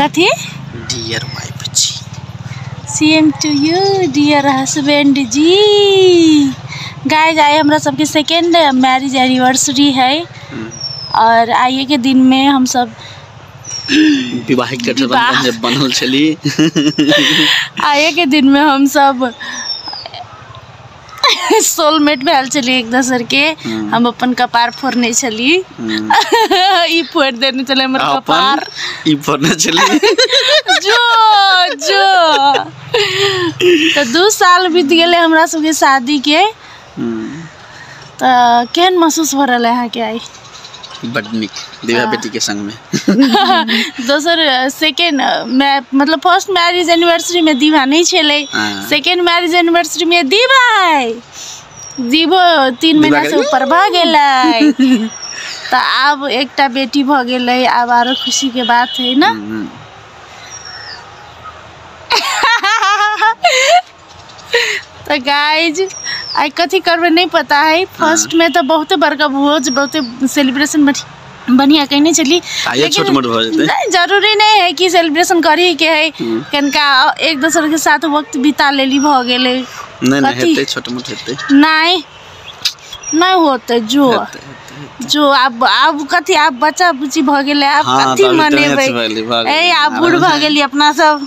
कथी डियर माय बुच्ची same to you dear husband ji गाय जाय हमरा सबके सेकेंड मैरिज एनिवर्सरी है और आइए के दिन में हम सब विवाहिक गठबंधन जे बनल छली आइए के दिन में हम सब सोलमेट भेल छलियै एक दोसरके हम अपन कपार फोड़ने छलियै ई फोड़ि देने छलै हमर अपन कपार ई फोड़ने छलियै जो जो तऽ दू साल बीत गेलै हमरा सबके शादीके हम्म, तऽ केहन महसूस भऽ रहल है अहाँके आइ बड नीक दिव्या हाँ। बेटी के संग में दोसर सेकेंड मैं मतलब फर्स्ट मैरिज एनिवर्सरी में दीवा नहीं छले सेकेंड मैरिज एनिवर्सरी में दीवा है दीवो तीन महीना से ऊपर भ गेलै तो आब एकटा बेटी भ गेलै आब आरो खुशी के बात है ना हम्म, हम्म। तऽ गाइज आइ कथी करबै नहि पता है फर्स्ट में तऽ बहुते बड़का भोज बहुते सेलिब्रेशन बढ़िया कहने छली आइयो छोट मोट भऽ जेतै नहीं जरूरी नहीं है कि सेलिब्रेशन करी के है हम्म। कनका एक दोसर के साथ वक्त बिता लेली भऽ गेलै नहीं नहीं हेतै छोट मोट हेतै नहीं नहीं होते जो हेतै, हेतै। जो आब आब कथी आब बच्चा बुच्ची भऽ गेलै आब हाँ, कथी तभी तऽ मनेबै मैच भेलै, भऽ गेलै। ए आब बूढ़ भऽ गेली अपना सब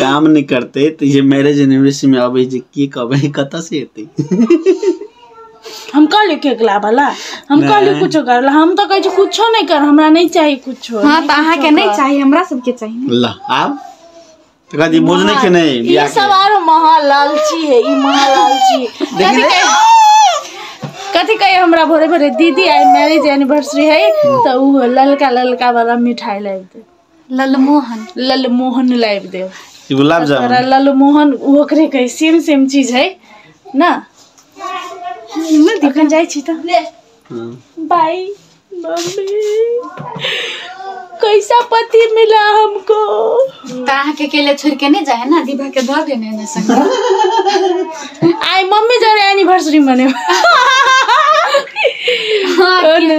काम नहि करतै तऽ जे मैरेज एनिवर्सरी में अबै जे की कहबै कतऽ से एतै हम कहलियै केक लाबऽ ला हम नहि। कहलियै कुछो कर ला हम तऽ कहै छी कुछो नहि कर हमरा नहि चाही कुछो हाँ तो अहाँ के नहीं चाहिए हमरा सबके चाहिए ला आब तऽ कहती भोज नहि खेने ई बियाह सब के आरो महा लालची है ई महा लालची है। कथी कहे कथी कहे हमरा भोरे भोरे दीदी आई मैरिज एनिवर्सरी है तो उ ललका ललका वाला मिठाई लाबि दे ललमोहन ललमोहन लाबि देब ई गुलाब तोरा जामुन ललमोहन ओ ओकरे कहै सेम सेम चीज है ना नहि दी अखन जाइ छी तऽ हम्म। बाय मम्मी कैसा पति मिला हमको तऽ अहाँके अकेले छोड़ के नहि जाए ना दीपा के दऽ देने ने संग आइ मम्मी जरे एनिवर्सरी मने हाँ, और ना।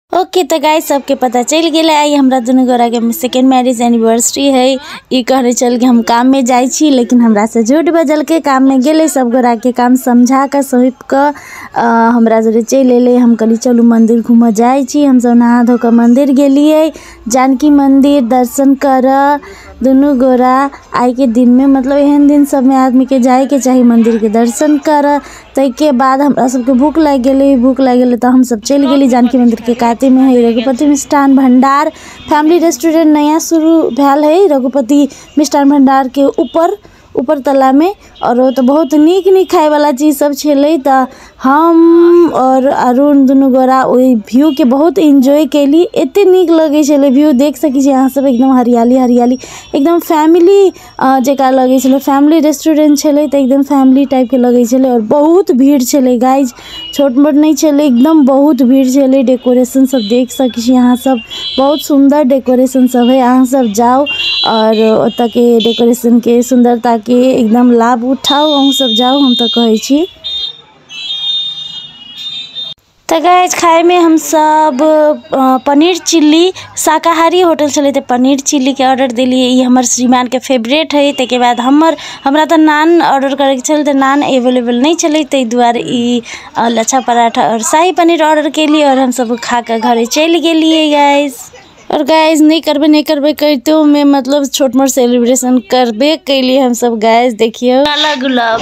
ओके तऽ गाय सबके पता चलि गेलै आइ हमरा दुनू गोराके सेकेंड मैरिज एनिवर्सरी है ई कहने चल कि हम काममे जाइ छी लेकिन हमरासँ झूठ बजलकै काममे गेलै सब गोराके काम समझा कऽ सौंप कऽ अ, हमरा जरे चलि एलै हम कहली चलू मंदिर घूमऽ जाइ छी हमसब नहा धो कऽ मंदिर गेलियै जानकी मंदिर दर्शन करऽ दुनू गोरा आइके दिनमे मतलब एहन दिन सबमे आदमीके जाइके चाही मंदिरके दर्शन करऽ ताहिके बाद हमरा सबके भूख लागि गेलै भूख लागि गेलै तऽ हमसब चलि गेली जानकी मन्दिरके कातेमे हइ रघुपति मिष्ठान भण्डार फैमिली रेस्टोरेन्ट नया शुरू भेल हइ रघुपति मिष्ठान भण्डारके उपर उपर तलामे आओर ओतऽ बहुत नीक नीक खाइवला चीजसब छलै तऽ हम आओर अरुण दुनू गोरा ओहि व्यूके बहुत एन्जॉय कएली एतेक नीक लगै छलै व्यू देखि सकै छी अहाँसब एकदम हरिआली हरिआली एकदम फैमिली अऽ जेकरा लगै छलै फैमिली रेस्टोरेंट छलै तऽ एकदम फैमिली टाइपके लगै छलै आओर बहुत भीड़ छलै गाइज छोट मोट नहि छलै एकदम बहुत भीड़ छलै डेकोरेशन सब देख सकै छी अहाँ सब बहुत सुन्दर डेकोरेशन सब है अहाँ सब जाउ आओर ओतऽके डेकोरेशनके सुन्दरताके एकदम लाभ उठाउ अहूँ सब जाउ हम तऽ कहै छी तऽ गाइज खाइमे हमसब पनीर चिल्ली शाकाहारी होटल छलै तऽ पनीर चिल्लीके ऑडर देलिए ई हमर श्रीमानके फेवरेट हइ ताहिके बाद हमर हमरा तऽ नान ऑडर करैके छलै तऽ नान एवेलेबल नहि छलै ताहि दुआरे ई लच्छा पराठा आओर शाही पनीर ऑडर केलिए आओर हमसब ओ खाकऽ घरे चलि गेलिए गाइज आओर गाइज नहि करबै नहि करबै करितोमे मतलब छोट मोट सेलिब्रेशन करबे केलिए हमसब गाइज देखिऔ काला गुलाब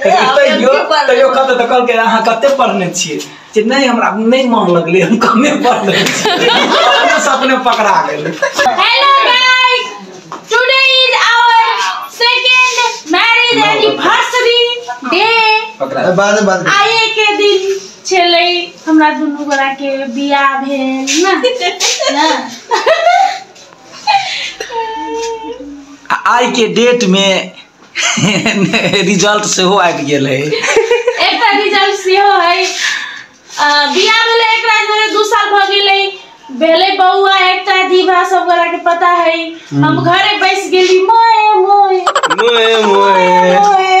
ए, लेकिन हम तैयो एमपी पढ़ने तैयो रही। कतऽ तऽ कहलकै अहाँ कते पढ़ने छियै जे नहि हमरा नहि मन लगलै हम कमे पढ़ने छियै अपने से अपने पकड़ा गेल Hello guys! Today is our second marriage anniversary day. पकड़ा बाद में बात आए के दिन छलै हमरा दुनू गोरा के बियाह भेल ना ना आ आइ के डेट में रिजल्ट सेहो आबि गेल है एकटा रिजल्ट सेहो है अ, बियाह भेलै एक रात भेलै दू साल भऽ गेलै भेलै बौआ एकटा दीभा सब गोरा के पता है हम घरे बैस गेली मोए मोए मोए मोए मोए